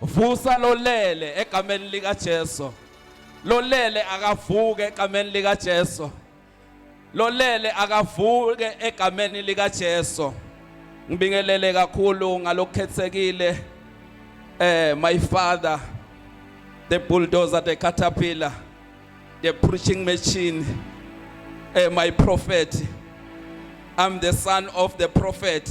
Vusa lolele egameni lika Jesu. Lolele akavuke egameni lika Jesu. Lolele akavuke egameni lika Jesu. Ngibingelele kakhulu ngalokhethekile eh my father the bulldozer the caterpillar the preaching machine eh my prophet I'm the son of the prophet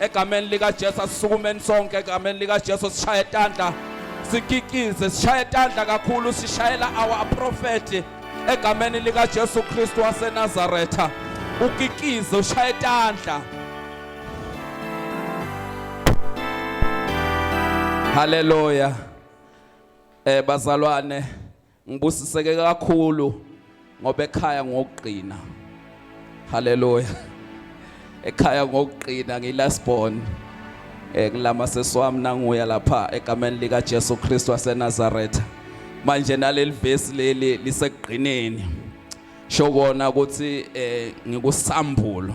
egameni likaJesu asisukumeni sonke egameni likaJesu sishaye tandla sikikize sishaye tandla kakhulu sishayela our prophet egameni likaJesu Kristu waseNazaretha ukikize ushaye tandla Hallelujah eh bazalwane Ngibusiseke kakhulu ngoba ekhaya ngokugcina. Haleluya. Ekhaya ngokugcina ngilast born. Eh ngilama seswami nanguya lapha egameni lika Jesu Kristu waseNazareth. Manje naleli verse leli lisekugcineni. Shokona ukuthi eh ngikusambulo.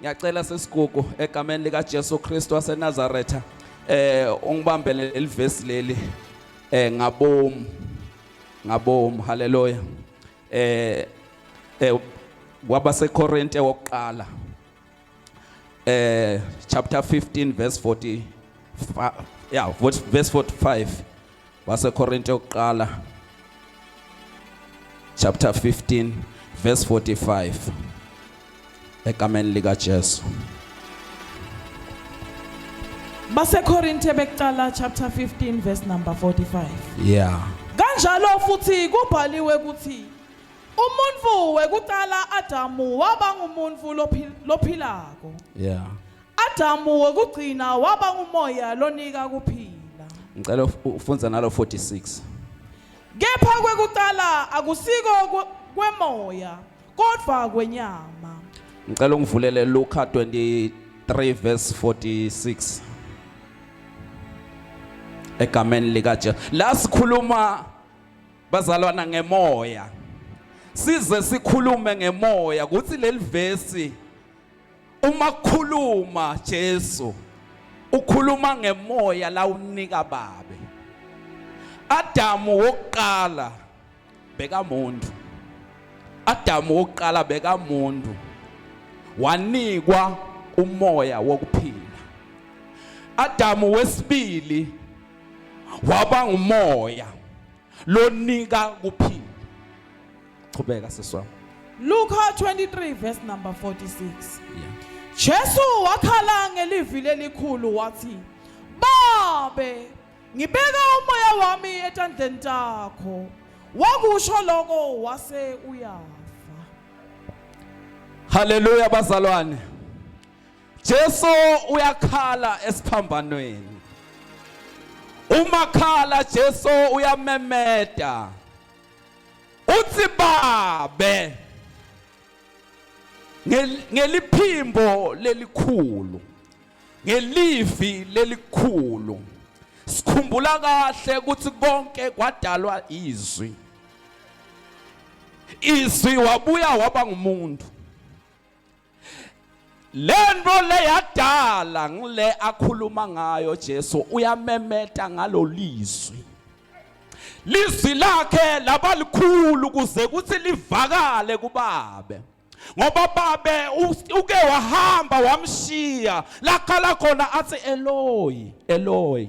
ngiyacela sesigugu egameni likaJesu Kristu waseNazaretha eh ungibambele elivesi leli eh ngabomu ngabomu haleluya eh eh kwabaseKorinte wokuqala eh chapter 15 verse 40 yeah verse 45 waseKorinte yokuqala chapter 15 verse 45 egameni lika Jesu baseKorinte bekuqala chapter 15 verse number 45 yeah kanjalo futhi kubhaliwe ukuthi umuntu wekuqala Adamu waba ngumuntu lophilako yeah Adamu wokugcina waba ngumoya lonika ukuphila. Ngicela uf- ufunza nalo 46. Kepha kwekuqala akusiko kwe- kwemoya kodwa kwenyama. Ngicela ungivulele Luka 23 verse 46. Egameni lika Jesu. La sikhuluma bazalwana ngemoya. Size sikhulume ngemoya ukuthi leli verse Uma khuluma Jesu ukhuluma ngemoya la unika babe. Adamu wokuqala beka muntu. Adamu wokuqala beka muntu. Wanikwa umoya wokuphila. Adamu wesibili waba ngumoya. lonika kuphila qhubeka siswami Luka 23 verse number 46 yeah Jesu wakhala ngelivi lelikhulu wathi Babe ngibeka umoya wami etandleni takho wakusho lokho wase uyafa Haleluya bazalwane Jesu uyakhala esiphambanweni. Uma khala Jesu uyamemeda. Uthi babe ngeliphimbo lelikhulu ngelivi lelikhulu sikhumbula kahle ukuthi konke kwadalwa izwi izwi wabuya waba ngumuntu lento le yadala ngile akhuluma ngayo Jesu uyamemeta ngalolizwi lizwi lakhe labalikhulu kuze kuthi livakale kubabe ngoba babe uke wahamba wamshiya lakhala khona athi Eloi Eloi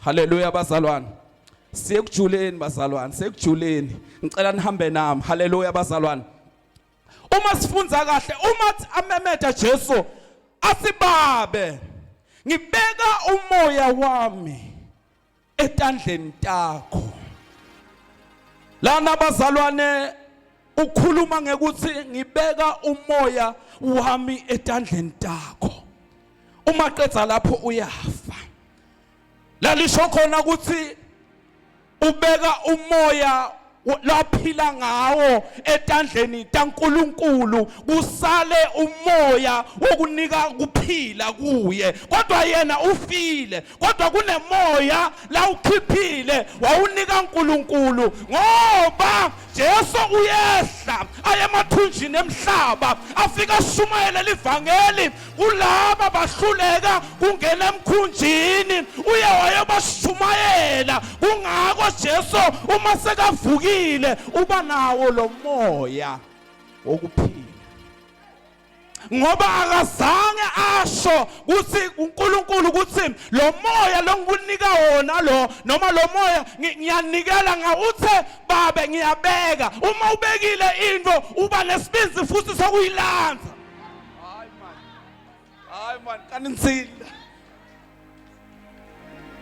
Haleluya bazalwane. Siyekujuleni bazalwane, sekujuleni. Ngicela nihambe nami. Haleluya bazalwane. Uma sifunza kahle, uma amemeda Jesu asibabe. Ngibeka umoya wami etandleni takho. Lana bazalwane ukhuluma ngekuthi ngibeka umoya wami etandleni takho uma qedza lapho uyafa lalisho khona ukuthi ubeka umoya laphila ngawo etandleni taNkuluNkulu kusale umoya wokunika kuphila kuye kodwa yena ufile kodwa kunemoya lawukhiphile wawunika uNkulunkulu ngoba Jesu uyehla aye emathunjini emhlaba afika ashumayele livangeli kulaba bahluleka kungena emkhunjini uye wayobashumayela kungako Jesu uma sekavukile uba nawo lo moya wokuphila ngoba akazange asho ukuthi uNkulunkulu ukuthi lo moya longinika wona lo noma lo moya ngiyanikela ngawuthe babe ngiyabeka uma ubekile into uba nesibindi futhi sokuyilandza hayi man hayi man kaninzile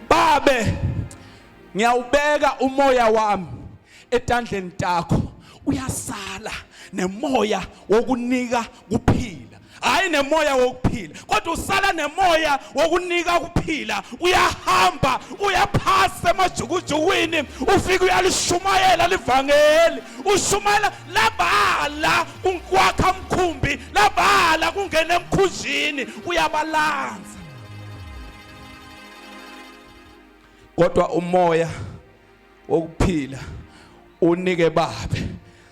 babe ngiyawubeka umoya wami etandleni takho uyasala nemoya wokunika kuphila hayi nemoya wokuphila kodwa usala nemoya wokunika kuphila uyahamba uyaphasa emajukujukwini ufike uyalishumayela livangeli ushumayela labala kwakha mkhumbi labala kungena emkhunjini uyabalanza kodwa umoya wokuphila unike babe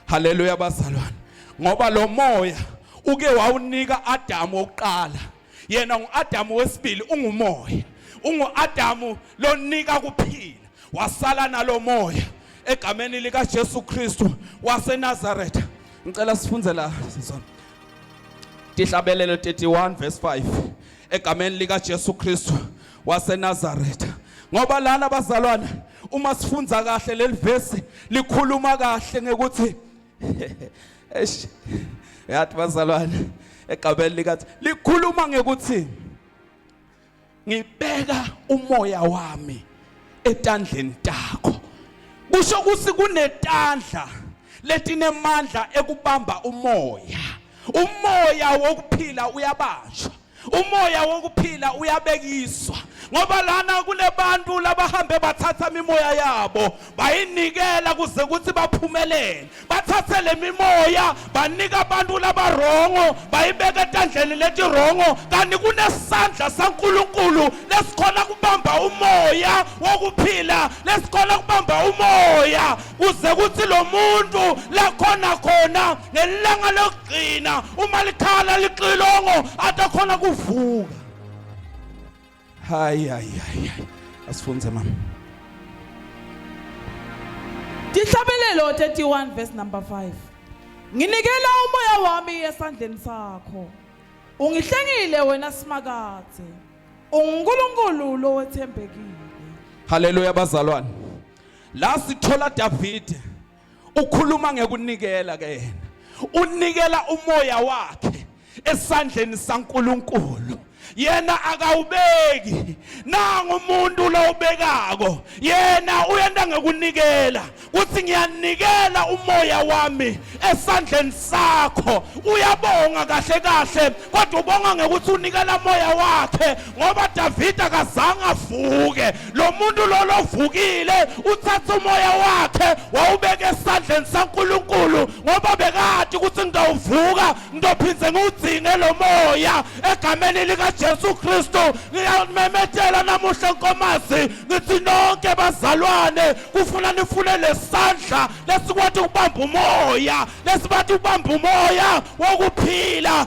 haleluya bazalwane ngoba lo moya uke wawunika Adamu wokuqala yena nguAdamu wesibili ungumoya unguAdamu lonika kuphila wasala nalomoya egameni lika Jesu Kristu waseNazaretha ngicela sifunze la sizona Tihlabelelo 31 verse 5 egameni lika Jesu Kristu waseNazaretha ngoba lana bazalwane uma sifunda kahle leli verse likhuluma kahle ngekuthi eish yathi bazalwane egabeni likathi likhuluma ngekuthi ngibeka umoya wami etandleni takho kusho ukuthi kunetandla letinemandla ekubamba umoya umoya wokuphila uyabanjwa umoya wokuphila uyabekiswa ngoba lana kulebantu labahambe bathatha imimoya yabo bayinikela kuze ukuthi baphumelele bathathe lemimoya banika abantu labarongo bayibeka etandleni letirongo kanti kunesandla saNkuluNkulu lesikhona kubamba umoya wokuphila lesikhona kubamba umoya kuze kuthi lo muntu lakhona khona ngelanga lokugcina uma likhala lixilongo atakhona kuvuka hayi hayi hayi asifunze mama Dihlabelelo 31 verse number 5 Nginikela umoya wami esandleni sakho Ungihlengile wena simakade UnguNkulunkulu lowethembekile Haleluya bazalwane la sithola David ukhuluma ngekunikela ke yena unikela umoya wakhe esandleni saNkuluNkulu yena akawubeki nangu umuntu lowubekako yena uyenta ngekunikela kuthi ngiyanikela umoya wami esandleni sakho uyabonga kahle kahle kodwa ubonga ngekuthi unikela moya wakhe ngoba Davide akazange avuke lo muntu lolo ovukile uthatha umoya wakhe wawubeka esandleni saNkuluNkulu ngoba bekade ukuthi ngidawuvuka ngidophinde ngiwudzinge lo moya egameni likaJesu Kristu ngiyamemethela namuhla nkomazi ngithi nonke bazalwane kufuna nifune lesandla lesikwathi ukubamba umoya lesibathi ukubamba umoya wokuphila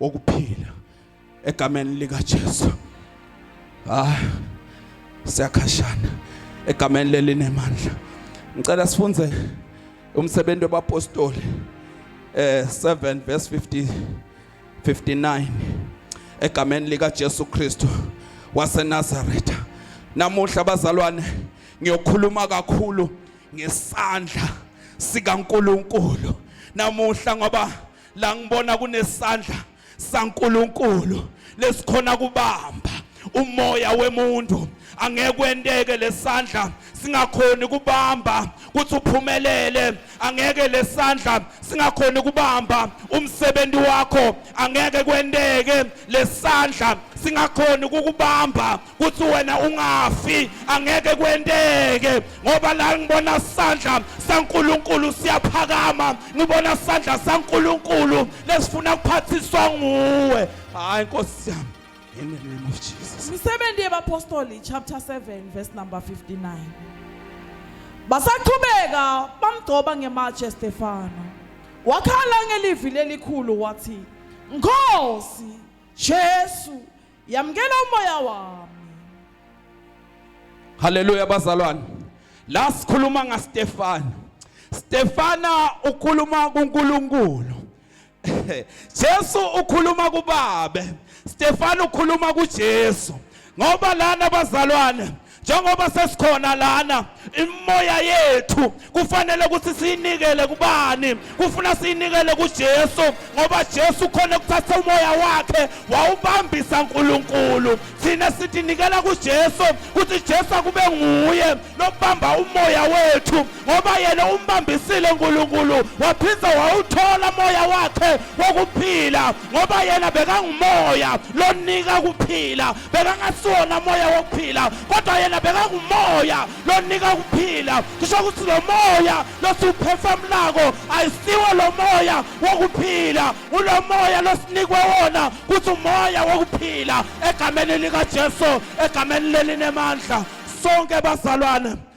wokuphila egameni likaJesu ah siyakhashana egameni lelinemandla ngicela sifunze umsebenzi wabapostoli eh 7 verse 50 59 egameni lika Jesu Kristu waseNazaretha namuhla bazalwane ngiyokhuluma kakhulu ngesandla sikaNkuluNkulu namuhla ngoba la ngibona kunesandla saNkuluNkulu lesikhona kubamba umoya wemuntu angeke kwenteke lesandla singakhoni kubamba kuthi uphumelele angeke lesandla singakhoni kubamba umsebenzi wakho angeke kwenteke lesandla singakhoni kukubamba kuthi wena ungafi angeke kwenteke ngoba la ngibona sandla saNkuluNkulu siyaphakama ngibona sandla saNkuluNkulu lesifuna kuphathiswa nguwe hayi nkosi yami in the name of Jesus Imisebenzi yabapostoli chapter 7 verse number 59 Basaqhubeka bamgcoba ngematshe Stefano wakhala ngelivi lelikhulu wathi Nkosi Jesu Yamkela umoya wami. Haleluya bazalwane. La sikhuluma ngaStefano. Stefana ukhuluma kuNkulunkulu. Jesu ukhuluma kuBabe. Stefano ukhuluma kuJesu. Ngoba lana bazalwane njengoba sesikhona lana imoya yethu kufanele ukuthi siyinikele kubani kufuna siyinikele kuJesu ngoba Jesu khona ukuthatha umoya wakhe wawubambisa uNkulunkulu thina sitinikela kuJesu ukuthi Jesu akube nguye lobamba umoya wethu ngoba yena umbambisile uNkulunkulu waphinda wawuthola umoya wakhe wokuphila ngoba yena bekangumoya lonika kuphila bekangasiwona moya wokuphila kodwa yena bekangumoya lonika ukuphila kusho ukuthi lo moya losiwuphefamulako ayisiwo lo moya wokuphila ulo moya losinikwe wona kuthi umoya wokuphila egameni likajesu egameni lelinemandla sonke bazalwane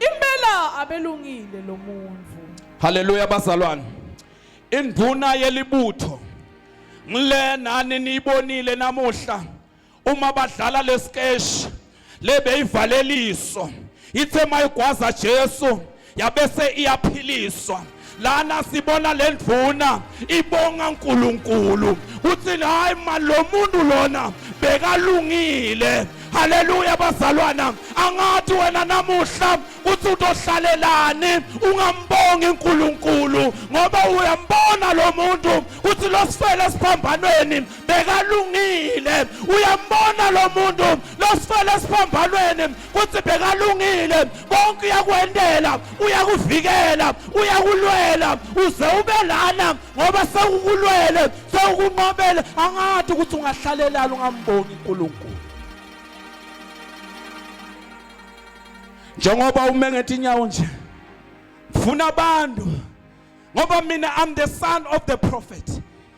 Impela abelungile lo muntu. Haleluya bazalwane. Induna yelibutho ngile nani niyibonile namuhla uma badlala lesikeshi lebeyivaleliswa ithe mayigwaza Jesu yabese iyaphiliswa lana sibona le ndvuna ibonga uNkulunkulu uthini hayi mani lo muntu lona bekalungile haleluya bazalwana angathi wena namuhla uthi utohlalelani ungambongi uNkulunkulu ngoba uyambona lo muntu uthi losifele esiphambanweni bekalungile uyambona lo muntu losifele esiphambanweni kuthi bekalungile konke uyakwendela uyakuvikela uyakulwela uze ube lana ngoba sewukulwele sewukunqobele angathi ukuthi ungahlalelani ungamboni uNkulunkulu njengoba ume ngethi inyawo nje ngifuna abantu ngoba mina I'm the son of the prophet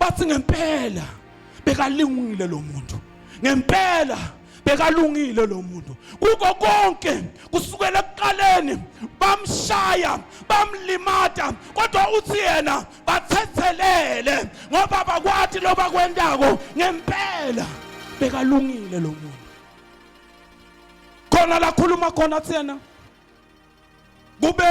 bathi ngempela bekalingile lo muntu ngempela bekalungile lo muntu kuko konke kusukela ekuqaleni bamshaya bamlimata kodwa uthi yena bathethelele ngoba bakwati loba kwendako ngempela bekalungile lo muntu khona lakhuluma khona thena kube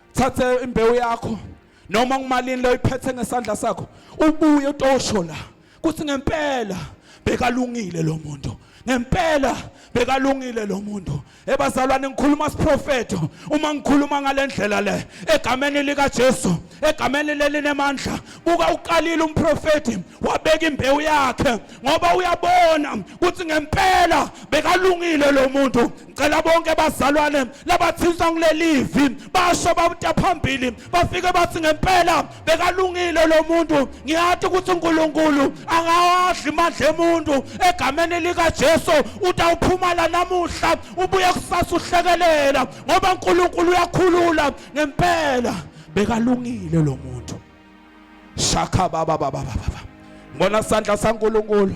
thathe imbewu yakho noma kumalini leyo iphethe ngesandla sakho ubuye utosho la kuthi ngempela bekalungile lo muntu ngempela bekalungile lo muntu ebazalwane ngikhuluma siprofeto uma ngikhuluma ngale ndlela le egameni likajesu egameni lelinemandla buka uqalile umprofethi wabeka imbewu yakhe ngoba uyabona ukuthi ngempela bekalungile lo muntu ngicela bonke bazalwane labathinta kulelivi basho babuta phambili bafike bathi ngempela bekalungile lo muntu ngiyathi ukuthi uNkulunkulu angawadli imandla emuntu egameni lika Jesu utawuphumala namuhla ubuye kusasa uhlekelela ngoba uNkulunkulu uyakhulula ngempela bekalungile lo muntu shaka baba baba baba ngibona sandla saNkulunkulu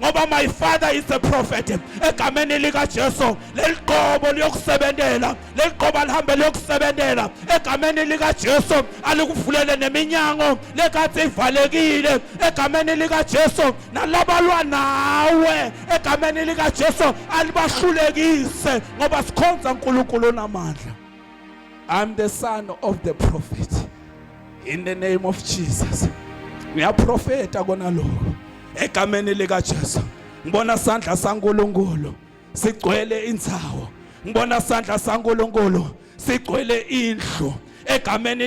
ngoba my father is a prophet egameni likaJesu leliqobo liyokusebentela leliqobo alihambe liyokusebentela egameni likaJesu alikuvulele neminyango lekathi ivalekile egameni likaJesu nalabalwa nawe egameni likaJesu alibahlulekise ngoba sikhonza uNkulunkulu onamandla I'm the son of the prophet in the name of Jesus ngiyaprofeta kona lokho egameni lika Jesu ngibona sandla saNkuluNkulu sigcwele inzawo ngibona sandla saNkuluNkulu sigcwele indlu egameni